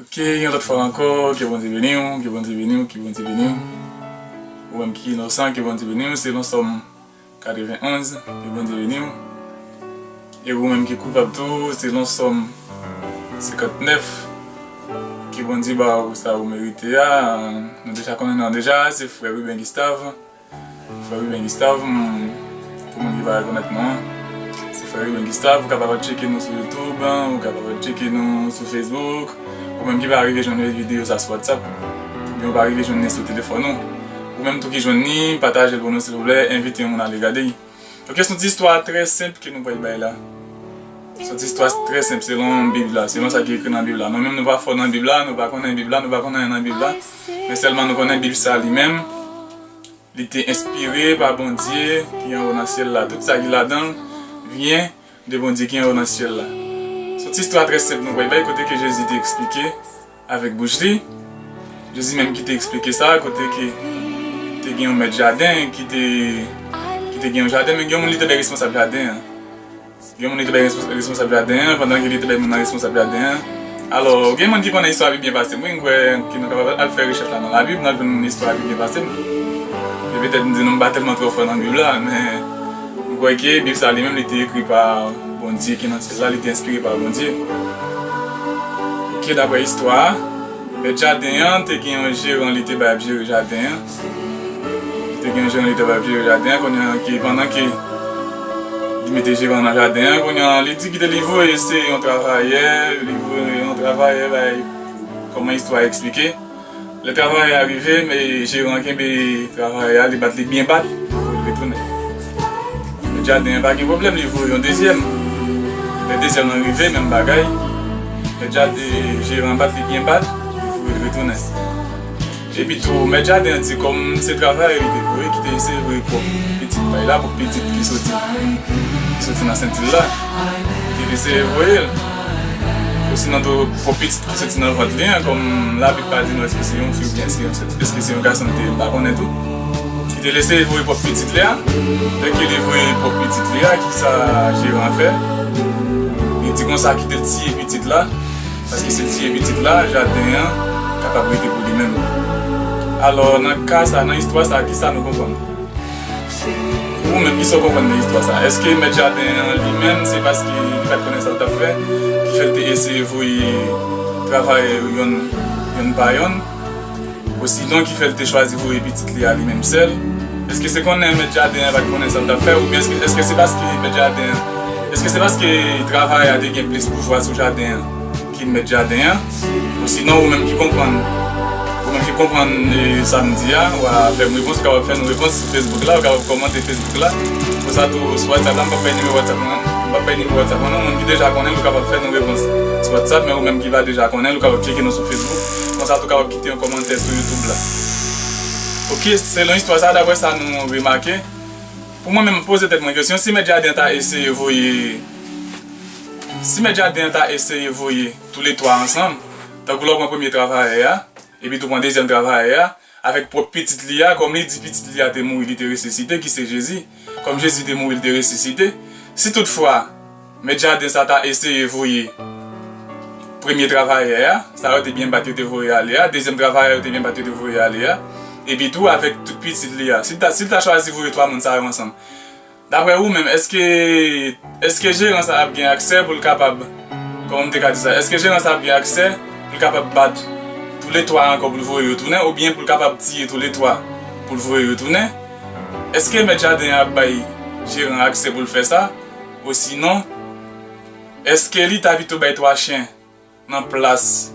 Ok yon lot fwa anko ke bondye beniw ke bondye beniw ke bondye beniw ou menm ki inosan ke bondye beniw selon som 91 ke bondye beniw e ou menm ki koupab tou selon som 59 ke bondye baw sa ou merite a nou deja konnen nan deja se frè Ruben Gustave Frè Remain Gustave m pou moun ki pa rekonèt mwen se frè Remain Gustave ou kapab al tcheke nou sou youtube ou kapab al tcheke nou sou facebook ou menm ki pa rive jwenn video sa sou whatsapp oubyen ou pa rive jwenn li sou telefòn ou ou menm tou ki jwenn li patajel pou nou silvouplè envite yon moun ale gade. Ok, son ti istwa trè senp ke nou pral bay la. Son ti istwa trè senp selon bib la, selon sa ki ekri nan bib la. Nou menm nou pa fò nan bib la, nou pa konnen bib la, nou pa konnen anyen nan bib la. Men sèlman nou konnen bib sa li menm, li te enspire pa Bondye ki anwo nan syèl la. Tout sa ki ladan vyen De Bondye ki anwo nan syèl la. Se yon ti istwa trè senp nou pral bay kote ke Jezi te eksplike avèk bouch li, Jezi menm ki te eksplike sa, kote ke te gen yon mèt jaden ki te ki te gen yon jaden men gen yon moun li te bay responsab jaden an. Gen yon moun li te bay responsab jaden an pandan ke li te bay moun nan responsab jaden an. Alò, gen moun ki konnen istwa a pi byen pase m wi, m kwè ke nou kapab al fè rechèch la nan labib, n ap jwenn istwa a pi byen pase m. E petèt m di nou m pa tèlman twò fò nan bib la men. M kwè ke Bib sa li menm li te ekri pa Bondye ki nan syèl la, li te enspire pa Bondye. Ok, daprè istwa a, mèt jaden an te gen yon jeran li te bay ap jere jaden an. Li te gen yon jeran li te bay ap jere jaden an, kounye an ke pandan ke li mete jeran nan jaden an, kounye an li di kite li voye se yon travayè, li voye yon travayè bay, kòman istwa a eksplike. Lè travayè a rive, jeran an kenbe travayè a, li bat li byen bat pou l retounen. Mèt jaden an pa gen pwoblèm, li voye yon dezyèm. Lè dezyèm lan rive, menm bagay, jeran an bat li byen bat, li voye l retounen. Epitou, mèt jaden an di kòm se travayè li te voye ki te eseye voye pwòp pitit pay la, pwòp pitit ki soti nan senti l la, li te eseye voye l. Osinon tou, fo pitit ki soti nan vant li an, kòm Labib pa di nou èske se yon fi oubyen èske se yon gason li te, m pa konnen tou, ki te lese vwe pwòp pitit li a. Lè ke li vwe pwòp pitit li a, kisa jeran an fè? Li di konsa, Kite l tiye pitit la, paske si l tiye pitit la, jaden an kapab rete pou li menm. Alò, nan ka sa a, nan istwa sa a, kisa nou konprann? Ou menm, kisa w konprann nan istwa sa a? Èske mèt jaden an li menm, se paske li pa t konnen sa l t ap fè ki fè l te eseye voye travayè yo yonn pa yonn? Osinon, ki fè l te chwazi voye pitit li a li menm sèl? Èske se konnen mèt jaden an pa t konnen sa l t ap fè? Oubyen èske se paske mèt jaden an, èske se paske travayè a te gen plis pouvwa sou jaden an? Ki mèt jaden an? Osinon ou menm ki konprann? Ou menm ki konprann sa m di a, wa fè m repons, ou kapab fè m repons sou Facebook la, ou kapab kòmante Facebook la, konsa tou sou WhatsApp la, m pap bay nimewo WhatsApp mwen an, m pap bay nimewo WhatsApp mwen non, moun ki deja konnen l ou kapab fè nou repons sou WhatsApp, men ou menm ki pa deja konnen l ou kapab tcheke nou sou Facebook, konsa tou kapab kite yon kòmantè sou YouTube la. Ok, selon istwa sa a, daprè sa nou remake, pou mwen menm m poze tèt mwen kesyon, si mèt jaden an ta eseye voye. Si mèt jaden an ta eseye voye toule twa ansanm, tankou lè w pran premye travayè a, epitou pran dezyèm travayè a, avèk pwòp pitit li a, kòm li di pitit li a te mouri, li te resisite, ki se Jezi, kòm Jezi te mouri, li te resisite, si toutfwa, mèt jaden sa ta eseye voye premye travayè a, sa yo te byen bat yo te voye ale a, dezyèm travayè a yo te byen bat yo te voye ale a, epitou avèk tout pitit li a, si l ta chwazi voye twa moun sa yo ansanm, Daprè ou menm eske eske jeran sa ap gen aksè pou l kapab kòman m te ka di sa eske jeran sa ap gen aksè pou l kapab bat tou le 3 ankò pou l voye yo tounen oubyen pou l kapab tiye tou le 3 pou l voye yo tounen eske mèt jaden an ap bay jeran an aksè pou l fè sa osinon eske li ta pito bay 3 chen nan plas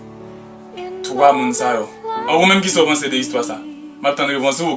3 moun sa yo an ou menm kisa ou panse de istwa sa m ap tann repons ou.